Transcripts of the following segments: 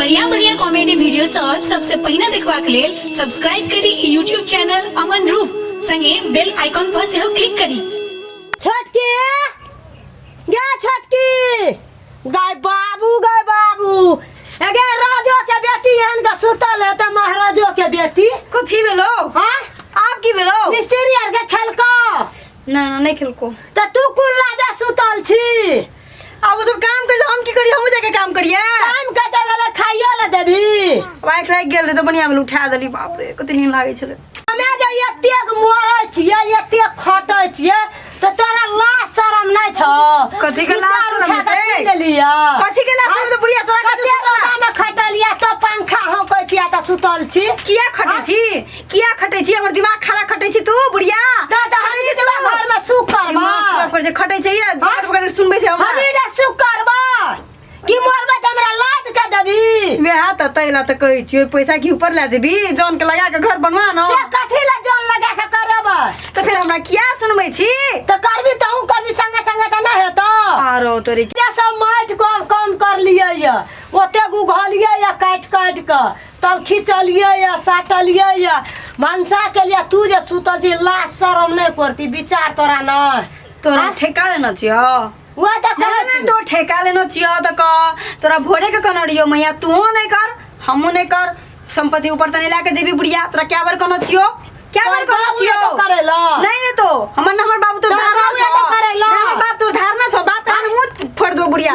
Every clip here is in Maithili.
बढ़िया बढ़िया कॉमेडी वीडियो सब सबसे पहिने देखबाक लेल सब्सक्राइब करी ई यूट्यूब चैनल अमन रूप संगे बेल आइकॉन पर सेहो क्लिक करी छोटकी गे छोटकी गाय बाबू गाय बाबू एगे राजो के बेटी एहन के सुतल है त महाराजो के बेटी कथी भेलो हां आब की भेलो मिस्त्री आर के खेलको ना ना नहीं खेलको त तू कुल राजा सुतल छी आ वो सब काम कर हम की करी हम जाके काम करिए काम के देबे ला खाइयो ला देबी वाइट लाग गेल रे तो बढ़िया में उठा देली बाप रे कते नींद लागे छले हमे जे एतेक मोरै छियै एतेक खटै छियै तो तोरा लाज शरम नै छौ कथी के लाज विचार शरम उठा के हेतै? पी लेलियै कथी के लाज शरम हेतै? बुढ़िया तोरा कथी कते शरम? रोदामे खटलियै तो पंखा हौकै छियै तऽ सुतल छी किया खटे छी किया खटै छी हमर दिमाग खराब खटै छी तू बुढ़िया दादा हम जे तोरा घर में सुख करबा दिमाग खराब कर जे खटै छै ये बात बगैर सुनबै छै हम हमरा जे सुख करबा कि मरबा त हमरा लाद के देबी वे हाथ त तैला त कहै छी ओइ पैसा की ऊपर ला जेबी जान के लगा के घर बनवा न से कथी ला जान लगा के करबा त फेर हमरा किया सुनबै छी त करबी त हूं करबी संगे संगे त ना हेतो आरो तोरे जे सब माटि कम कम कर लिए ये ओते गुघलिए ये काटि काटि के तब खिचलियै या साटलियै या भनसा केलियै तू जे सुतल छी लाज शरम नहि करती विचार तोरा नहि तोरा ठेका लेना छियो वह तऽ कहै कहै छी तो ठेका लेना छियो तो कह तोरा भोरे के कहना रहियो मैया तू नहीं कर हमू नहीं कर संपत्ति ऊपर तने लाके देवी बुढ़िया तोरा क्या बार कहना छियो क्या बार कहना बाबू छियो ये तो करेला। नहीं है तो हमर ना हमर बाबू तो तोरा धारना बाबू ये तो छो करेला। ना हमर बाप तो धारना छो बाप कान मुंह फोड़ दो बुढ़िया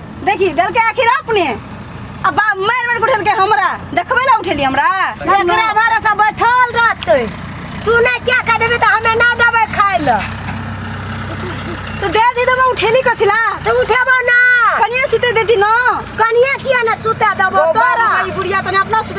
देखी देलके आखिर अपने अब बा- मारि मारि उठेलके हमरा देखबे ला उठेली हमरा एकरा भरोसा बैठल रहते तू नहीं क्या कह देबे तो हमें ना देबे खाए ला तो दे दी तो मैं उठेली कथिला तो उठेबो ना कनिया सुते देती ना कनिया किया ना सुता देबो तोरा बुढ़िया तने अपना सुते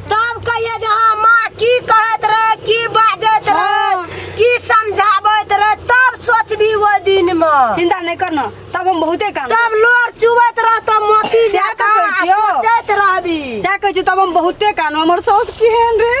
तब कहिए जे हँ माँ की कहैत रहै की बाजैत रहै हँ। की समझाबैत रहै तब सोचबी ओहि दिनमे चिंता नहीं करना तब हम बहुते काम तब लोर चुबैत रहतो मोती सएह जकाँ तऽ कहै छियौ। आ सोचैत रहबी सएह कहै छी तब हम बहुते काम हमर साउस केहन रहे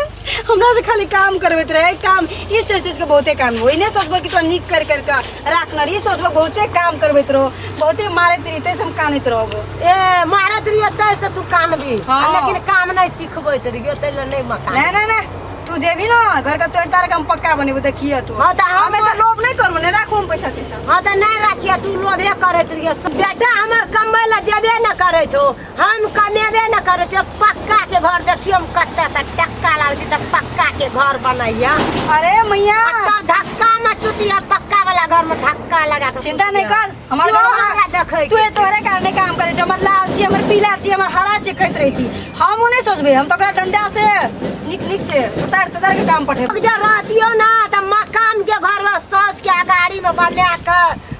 हमरा से खाली काम करबैत रहे काम ई सोच सोच के बहुते काम ओहिने सोचबै कि तोरा नीक कर कर के राख न रही सोचबो बहुते काम करबैत रहो बहुते मारैत रही तैसे हम कानैत रहबो ए मारत रहियो तै से तू कानबी हाँ। आ लेकिन काम नहीं सिखबैत रहियो तै ले नहीं मकान नहीं नहीं नहीं तू जेबी ना घर का तोड़ तार का हम पक्का बनेबो देखिए तू हाँ, तो हम- हमें तो लोभ नहीं करबो ने राखो हम पैसा तैसा हाँ तो नहीं रखिए तू लोभे करत रहियो बेटा हमर कमबै ला जेबे न करै छो हम कमेबे न करे छे पक्का के घर देखियो हम कत्ता से टक्का लावे छी त पक्का के घर बनैया अरे मैया तो धक्का में सुतिया पक्का वाला घर में धक्का लगा के चिंता नहीं कर हमार घर हमरा देखे तू तोरे कारणे काम करे छे हमर लाल छी हमर पीला छी हमर हरा छी कहत रही छी हम नहीं सोचबे हम तो ओकरा डंडा से निक निक से उतार उतार के काम पठे जा रहतियो ना त मकान के घर ला सज के अगाड़ी में बना के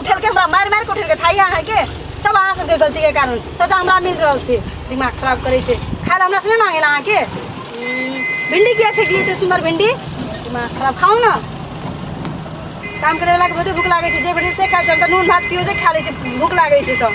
उठेल के हमरा मारि मारि के उठेल के थाई अहाँ के सब अहाँ सबके गलती के कारण सजा हमरा मिल रहल छै दिमाग खराब करे छै खाए ला हमरा से नहीं मांगे अहाँ के हम्म, भिंडी किया फेंक लिए सुंदर भिंडी दिमाग खराब खाओ ना काम करे वाला के बहुते भूख लागे छै जे भेटै से खाइ छै हम तऽ नून भात पियो जे खा लै छै भूख लागे छै तऽ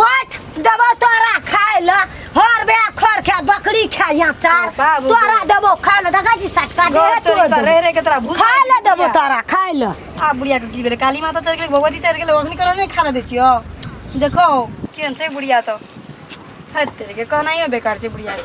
बैठ देबो तोरा खाय ले हर बे खर खा बकरी खा या चार बाबू। तोरा देबो खाय ले देखै छी सटका दे घर तोड़ तोरी पर रह रह के तोरा भूत खाय ले देबो तोरा खाय ले आ बुढ़िया के की बेरे काली माता चढ़ गेलै भगवती चढ़ गेलै ओखनी करा नहि खाना दै छियो देखो केहन छै बुढ़िया तऽ थैत तेरे के कहनाइयो बेकार छै बुढ़िया के